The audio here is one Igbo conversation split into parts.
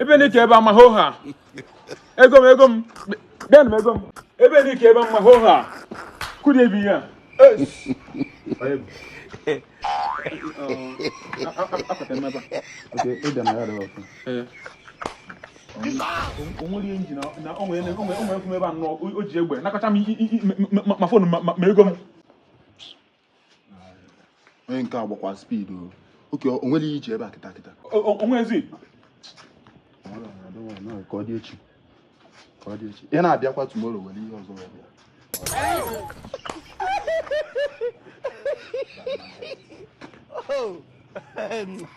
ebe n'ike ebe ama hoo ha ego m ego m bịanụ m ego m ebe n'ike ebe ama hoo ha kụdị ebi ya o nwere ihe nji na onwe nkwụ ebe anọ o ji egbe nakọcha m ma phone ma ego m onye nke a gbakwa speed o oke o nwere iji ebe a kịta kịta o nwezi ka ọ dị echi ka ọ dị echi ị na-abịakwa tomorrow were ihe ọzọ wee bịa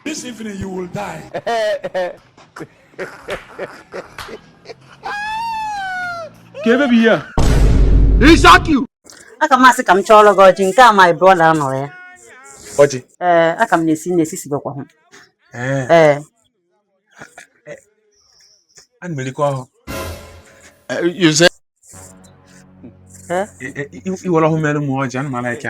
This evening you will die. ka ebe bụ ihe a E shock you. a ka m asị ka m chọọrọ gị ọjị nke a my brother nọ ya ọjị ee aka m na-esi na-esi sibekwa hụ ee ana m erikwa ọhụ i were ọhụ mere m ọjị ana m ala ike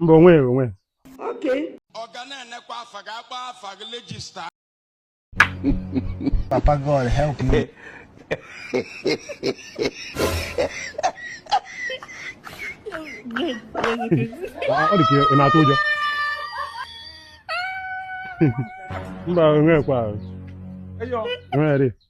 mba onwe onwe ọ ga na-enekwa afa ga-akpọ afa gị register Papa God help me. ọ dị ka ị na-atụ ụjọ mba onwe kwa onwe